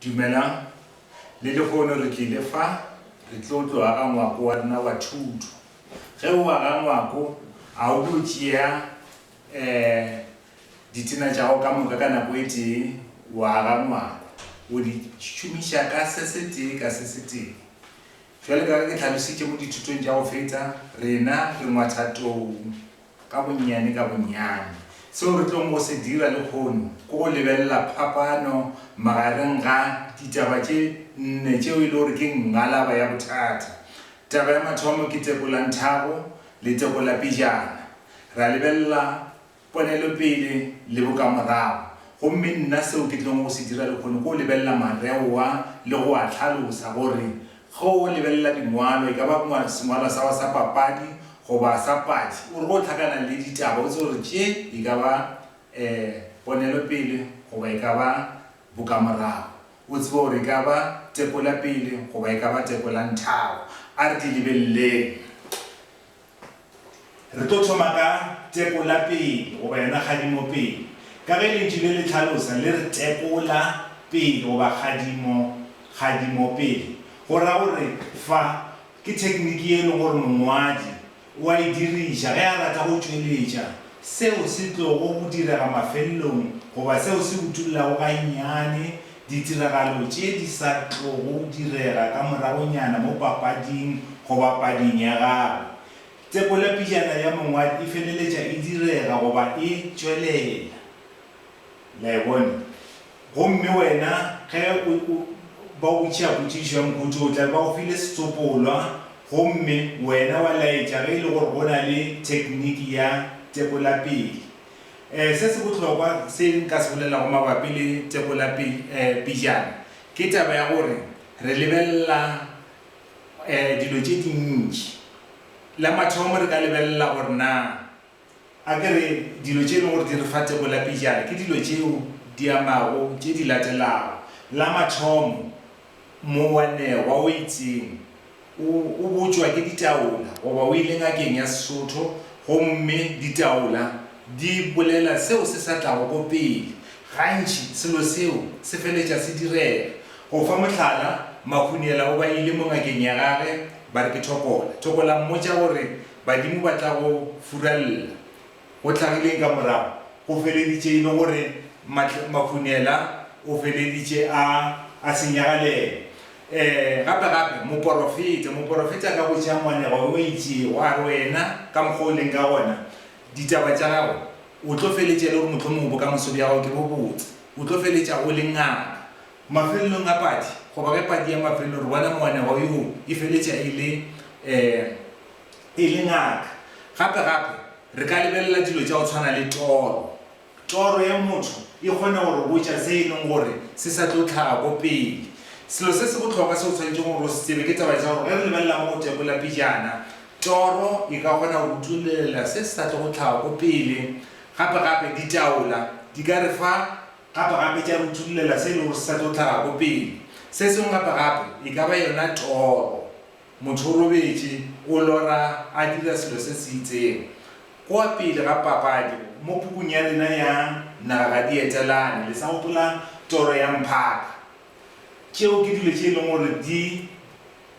Dumelang. Le lehono re tlile fa re tlo tlo aga ngwako wa rena wa thuto. Ge o aga ngwako, a o tlo tšea um ditena tša gago ka moka ka nako e tee, wa aga ngwako. O di šomiša ka se se tee ka se se tee. Bjale ka ge ke tlhalositše mo dithutong tša go feta, rena re ngwatha tou Ka bonnyane ka bonnyane, seo re tlogo go se dira lehono ke go lebelela phapano magareng ga ditaba tše nne tšeo e le gore ke ngalaba ya bothata. Taba ya mathomo ke tekolanthago le tekolapejana. Ra lebelela ponelopele le bokamorago, gomme nna seo ke tlogo go se dira lehono ke go lebelela mareoa le go a hlalosa gore Ge o lebelela dingwalo, e ka ba sengwalwa sa gago sa papadi goba sa padi, o re ge o hlakana le ditaba o tsebe gore tše e ka ba ponelopele goba e ka ba bokamorago, o tsebe gore e ka ba tekopele goba e ka ba tekolanthabo. A re di lebeleleng. Re tlo thoma ka tekola pele, goba yona kgadimo pele. Ka ge lentšu le le tlhalosa, le re tekola pele goba kgadimo, kgadimo pele. Go ra gore fa ke thekniki ye e lego gore mongwadi o a e diriša ge a rata go tšweletša seo se tlogo go direga mafelelong goba seo se utollago gannyane Ditiragalo tše di sa tlogo direga ka moragonyana mo papading goba pading ya gago. Tepolapijana ya mongwadi e feleletša e direga goba e tšwelela. Le a e bona? Gomme wena, ge o, o, ba go botšiša potšišo ya mokhuthi o tla be ba go file setsopolwa, gomme wena wa laetša ge e le gore go na le thekniki ya tepolapele. Ee, se se bohlokwa se nka se bolelago mabapi le teko la pi, ee, pejana ke taba ya gore re lebelela, ee, dilo tše dintši. La mathomo re ka lebelela gore na a ke re dilo tše e lego gore di re fa teko la pejana ke dilo tšeo di amago tše di latelago. La mathomo, Moanegwa o itseng o o botšwa ke ditaola goba o ile ngakeng ya Sesotho gomme ditaola di bolela seo se sa tlago ko pele. Gantši selo seo se feletša se direga. Go fa mohlala, Makhuniela o ba ile mo ngakeng ya gage ba re ke thokola. Thokola mmotša gore badimo ba tla go furalla. Go hlagileng ka morago? Go feleditše e le gore Makhunela o feleditše a, a senyagalela. Ee, gape, gape, moporofeta, moporofeta ka go tšea moanegwa wo o itšego, a re, Wena, ka mokgwa o leng ka gona, ditaba tša gago, o tlo feletša e le gore mohlomongwe bokamoso bja gago ke bo botse. O tlo feletša o le ngaka. Mafelelong a padi, goba ge padi ya mafelelo, re bona moanegwa yoo e feletša e le, ee, e le ngaka. Gape gape, re ka lebelela dilo tša go tshwana le toro. Toro ya motho e kgona go re botša se e leng gore se sa tlo hlaga ko pele. Selo se se bohlokwa se o swanetšego gore o se tsebe ke taba tša gore ge re lebelela mo go tekola pejana, toro e ka kgona go utulelela se se sa tlogo hlaga ko pele. Gape gape, ditaola di ka re fa gape gape tša re utulelela se e lego gore se sa tlo hlaga ko pele. Se sengwe gape gape e ka ba yona toro. Motho o robetše, o lora, a dira selo se se itseng. Kua pele ga papadi, mo pukung ya lena ya Naga ga di Etelane, le sa gopola toro ya mphaka? Tšeo ke dilo tše e leng gore di,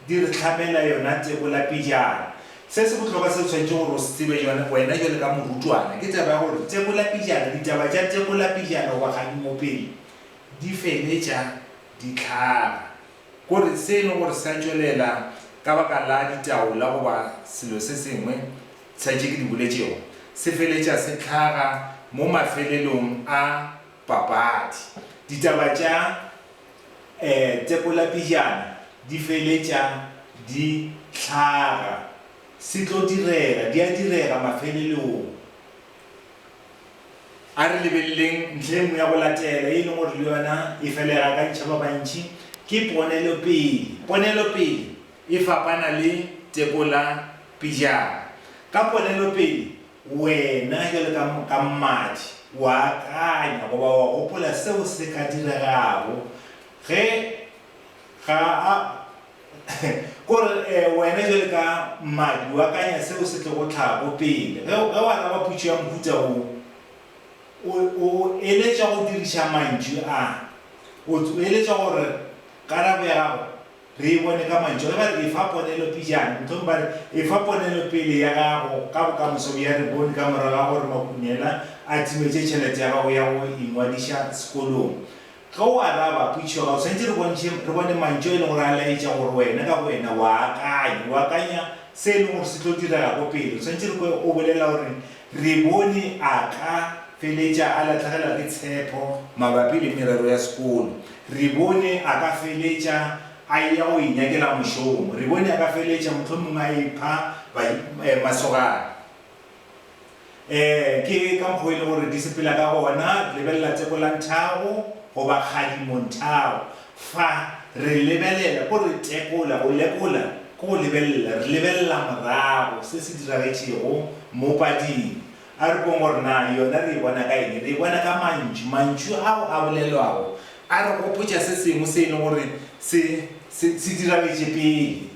di re hlabela yona tebola pejana. Se se bohlokwa se o swanetšego gore o se tsebe jone, wena bjale ka morutwana, ke taba ya gore tebola pejana, ditaba tša tebola pejana goba kgadimo pele di feletša di hlaga. Gore se e le gore sa tšwelela ka baka la ditaola goba selo se sengwe sa tše ke di boletšego, se feletša se hlaga mo mafelelong a papadi. Ditaba tša Tepolapijana di feletša di hlaga. Se tlo direga, di a direga mafelelong. A re lebeleleng ntlha e nngwe ya go latela, ye e lego gore le yona e felega ka ditšha ba bantši, ke ponelopele. Ponelopele e fapana le tekola pejana. Ka ponelopele, wena bjalo ka, ka mmadi, o a akanya goba o a gopola seo se ka diregago ge ga a, Ko re, E, wena bjale ka mmadi, o akanya seo se tlogo tlago pele ge, ge o araba potšo ya mohuta wo. O, o eletšwa go diriša mantšu a. O, o eletšwa gore karabo ya gago re e bone ka mantšu a. Ge ba re, Efa ponelo pejana, mohlomongwe ba re, Efa ponelo pele ya gago ka bokamoso bja Rebone ka morago ga gore Makunela a timetše tšhelete ya gago ya go ingwadiša sekolong. Ge o araba potšišo ga o swanetše re bontšhe, re bone mantšu a e lego gore a laetša gore wena ka bowena o a akanya. O akanya se e lego gore se tlo direga ko pele. O swanetše re kwe o bolela gore, Re bone a ka feletša a lahlegelwa ke tshepo mabapi le merero ya sekolo. Re bone a ka feletša a eya go inyakela mošomo. Re bone a ka feletša mohlomongwe a ipha masogana. Ee, ke ka mokgo e le gore di sepela ka gona. Re lebelela Tsekolanthabo goba Kgadimonthago. Fa re lebelela, ko re tekola, go lekola ke go lebelela, re lebelela morago se se diragetšego mo pading. A re bong gore na yona re e bona ka eng. Re e bona ka mantšu. Mantšu ao a bolelwago a re gopotša se sengwe se e leng gore se, se, se diragetše pele.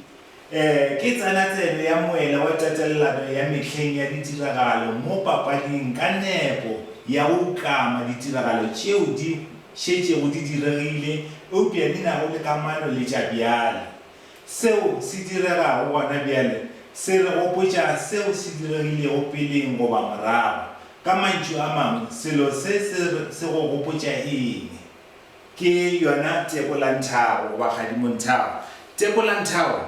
Ee, ke tsena tsebe ya moela wa tatelelano ya mehleng ya ditiragalo mo papading ka nepo ya go ukama ditiragalo tšeo di šetšego di diregile eupša di nago le kamano le tša bjale. Seo se diregago gona bjale se re gopotša seo se diregilego peleng goba morago. Ka mantšu a mangwe, selo se se go gopotša eng? Ke yona Tebolanthabo goba Kgadimonthago. Tebolanthabo,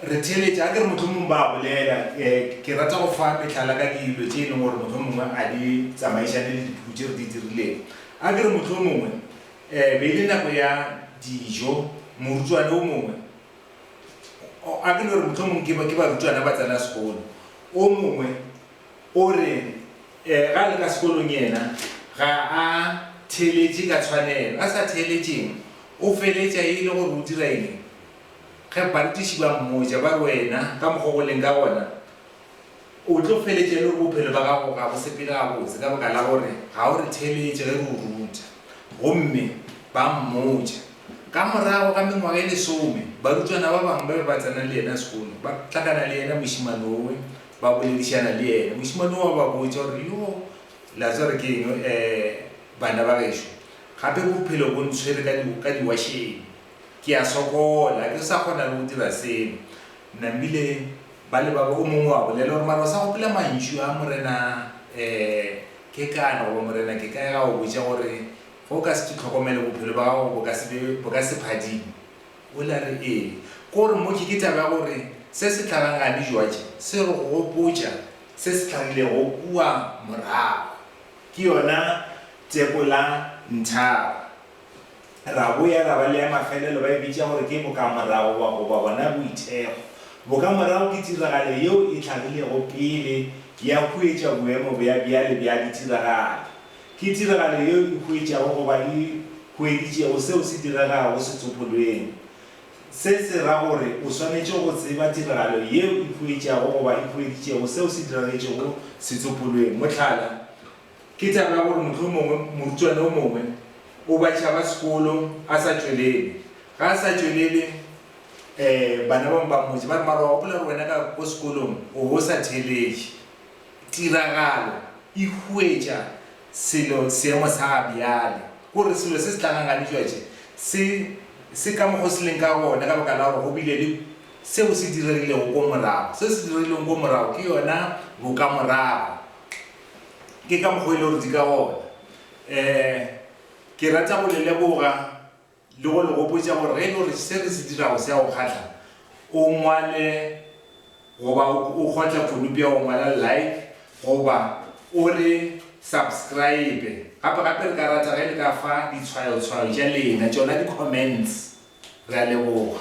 re theeletše, a ke re mohlomong ba a bolela, ke rata go fa mehlala ka dilo tše e leng gore mohlomongwe a di tsamaišane le dipuku tše re di dirilego. A ke re mohlomongwe be e le nako ya dijo, morutwana o mongwe, a ke no re mohlomong ke barutwana ba tsena sekolo, o mongwe, O re, Ge a le ka sekolong yena ga a theeletše ka tshwanelo. A sa theeletšeng, o feletša e le gore o dira eng? Ge barutiši ba mmotša ba re, Wena, ka mokgwa wo o leng ka gona, o tlo feletša e le gore bophelo bja gago ga bo sepele gabotse ka baka la gore ga o re theeletše ge re o ruta. Gomme ba mmotša. Ka morago ga mengwaga e lesome, barutwana ba bangwe ba be ba tsena le yena sekolo, ba hlakana le yena mošemane wo Ba boledišana le yena. Mošemane wo a ba botša gore, Yo, le a tseba gore ke eng, e, banna ba gešo, gape bophelo bo ntshwere ka di, ka diwašeng. Ke a sokola. Ga ke sa kgona le go dira selo. Namile ba le ba ba, o mongwe a bolela gore, Mara o sa gopola mantšu a Morena, e, Kekana, goba Morena Kekaya a go botša gore, Ge o ka se ke tlhokomele, bophelo bja gago bo ka se be, bo ka se phadime. O ile a re, Ee. Ko re, Mmoki, ke taba ya gore se se tlageng ga dijwatše se re go gopotša se se tlagilego kua morago. Ke yona tseko la nthaba. Ra boya ra ba le ya mafelelo, ba e bitša gore ke bokamorago ba, goba bona boithekgo. Bokamorago ke tiragalo yeo e tlagilego pele ya huetša boemo bja bjale bja ditiragalo. Ke tiragalo yeo e hwetšago goba e hweditšego seo se diregago setsopolweng. Se se ra gore o swanetše go tseba tiragalo yeo e hwetšago goba e hweditšego seo se diragetšego setsopolweng. Mohlala, ke taba ya gore mohlomongwe morutwana yo mongwe o batšha ba sekolo a sa tšwelele. Ge a sa tšwelele, bana bangwe ba mmotša ba re, Mara wa gopola gore wena ka ko sekolong o be o sa theeletše. Tiragalo e huetša selo seemo sa ga bjale, ke gore selo se se tla ganganetšwa tše se se ka mokgwa o se leng ka gona ka baka la gore go bile le seo se diregilego ko morago. Se se diregilego ko morago ke yona bokamorago. Ke ka mokgwa o e le gore di ka gona. Ke rata go le leboga. Le go le gopotša gore ge e le gore se re se dirago se a go kgahla, o ngwale goba o kgotla konopi ya go ngwala Like goba o re Subscribe. Gape-gape re ka rata ge le ka fa ditshwayotshwayo tša lena, tšona di-comments. Re a leboga.